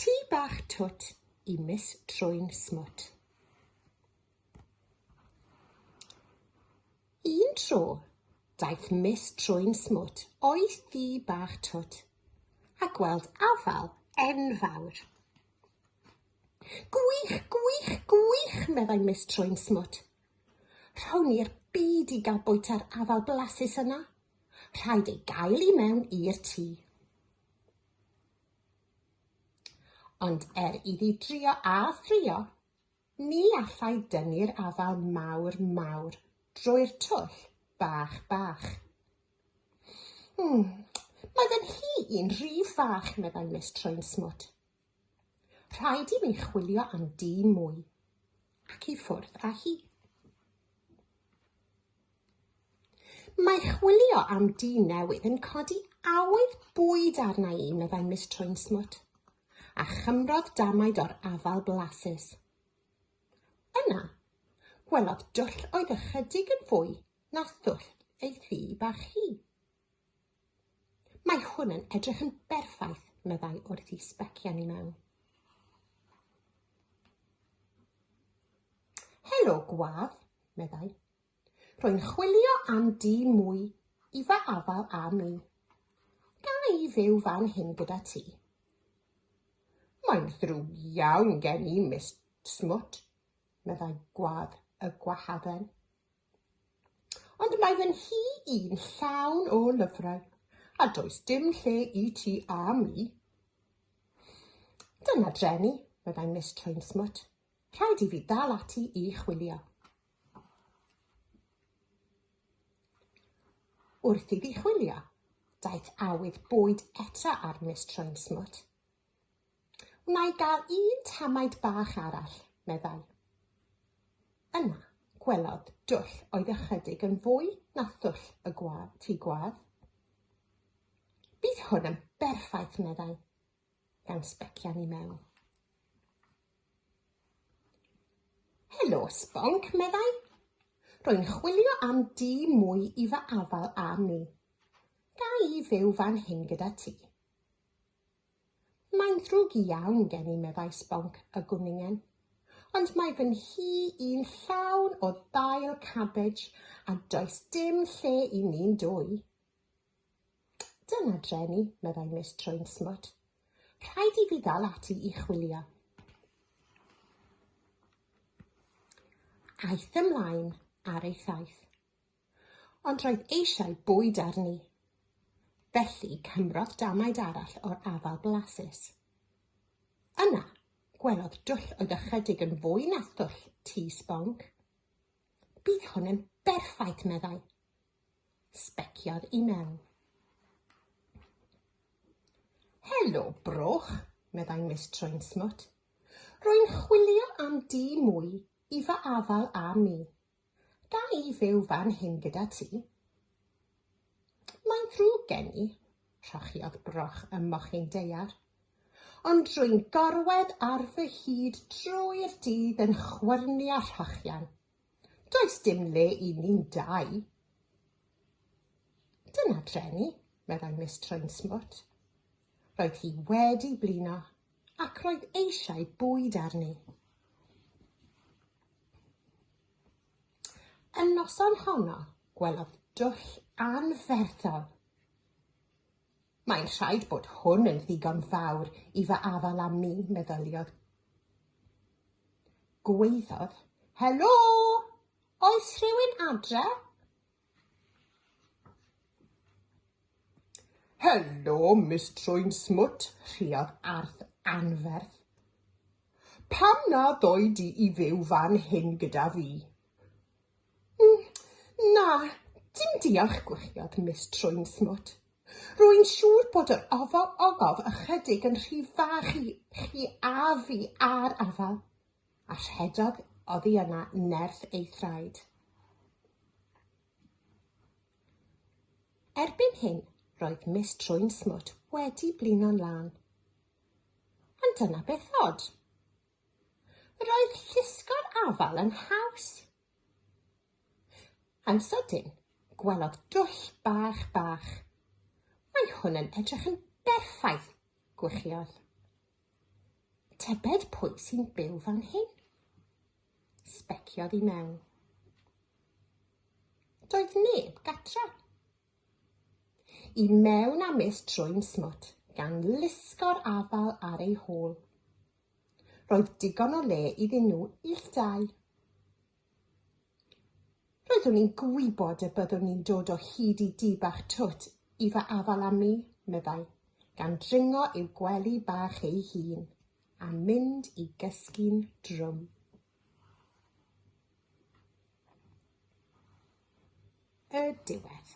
Tŷ bach twt i Miss Trwyn Smwt. Un tro daeth Miss Trwyn Smwt o'i thŷ bach twt a gweld afal enfawr. Gwych, gwych, gwych, meddai Miss Trwyn Smwt. Rhown i'r byd i gael bwyta'r afal blasus yna. Rhaid ei gael i mewn i'r tŷ. Ond er iddi drio a thrio, ni allai dynnu'r afal mawr mawr drwy'r twll bach bach. Hmm, mae fe'n hi i'n rhy fach, meddai Miss Trwyn Smwt. Rhaid i mi chwilio am dyn mwy, ac i ffwrdd â hi. Mae chwilio am dyn newydd yn codi awydd bwyd arna i, meddai Miss Troinsmwt, a chymrodd damaid o'r afal blasus. Yna, gwelodd dwll oedd ychydig yn fwy na thwll ei thŷ bach hi. Mae hwn yn edrych yn berffaith, meddai wrth i sbecian i mewn. Helo, gwaf, meddai. Rwy'n chwilio am di mwy i fy afal a mi. Ga i fyw fan hyn gyda ti? Mae'n ddrwg iawn gen i, Miss Smwt, meddai gwad y gwahaden. Ond mae fy nhŷ i'n llawn o lyfrau, a does dim lle i ti a mi. Dyna dreni, meddai Miss Trainsmut. Rhaid i fi dal ati i chwilio. Wrth iddi chwilio, daeth awydd bwyd eto ar Miss Trainsmut. Wna i gael un tamaid bach arall, meddai. Yna, gwelodd dwll oedd ychydig yn fwy na thwll y gwa, tŷ gwadd. Bydd hwn yn berffaith, meddai, gan sbecian i mewn. Helo, Sbonc, meddai. Rwy'n chwilio am dŷ mwy i fy afal â mi. Ga i fyw fan hyn gyda ti? Mae'n ddrwg iawn gen i, meddai Sbonc y gwningen, ond mae fy nhŷ i'n llawn o ddail cabej a does dim lle i ni'n dwy. Dyna dre ni, meddai Miss Trwyn-smwt. Rhaid i fi ddal ati i chwilio. Aeth ymlaen ar ei thaith. Ond roedd eisiau bwyd arni. Felly cymrodd damaid arall o'r afal blasus. Yna, gwelodd dwll oedd ychydig yn fwy na thwll tŷ sbonc. Bydd hwn yn berffaith, meddai. Sbeciodd i mewn. Helo, broch, meddai Miss Troinsmwt. Rwy'n chwilio am dŷ mwy i fy afal a mi. Ga i fyw fan hyn gyda ti? Mae'n ddrwg gen i, rhochiodd Broch ym mochyn daear. Ond rwy'n gorwedd ar fy hyd drwy'r dydd yn chwyrnu a rhochian. Does dim le i ni'n dau. Dyna dreni, meddai Miss Troinsmwt. Roedd hi wedi blino Ac roedd eisiau bwyd arni. Y noson honno, gwelodd dwll anferthol. Mae'n rhaid bod hwn yn ddigon fawr i fy afal am mi, meddyliodd. Gweiddodd, Helo! Oes rhywun adre? Helo, Miss Trwyn Smwt, rhiad arth anferth. Pam na ddoi di i fyw fan hyn gyda fi? Mm, na, dim diolch, gweithiodd Miss Trwyn Smwt. Rwy'n siŵr bod yr ofal olaf ychydig yn rhy fach i chi a fi a'r afal. A rhedodd oddi yna nerth ei thraed. Erbyn hyn, roedd Miss Trwyn Smwt wedi blino'n lân. Ond dyna beth od. Roedd llusgo'r afal yn haws. Yn sydyn, gwelodd dwll bach bach. Mae hwn yn edrych yn berffaith, gwychiodd. Tybed pwy sy'n byw fan hyn? Sbeciodd i mewn. Doedd neb gatra. I mewn a mis trwy'n smwt, gan lusgo'r afal ar ei hôl. Roedd digon o le iddyn nhw ill dau. Roeddwn i'n gwybod y byddwn i'n dod o hyd i dŷ bach twt i fy afal am mi, meddai, gan dringo i'w gwely bach ei hun a mynd i gysgu'n drwm. Y diwedd.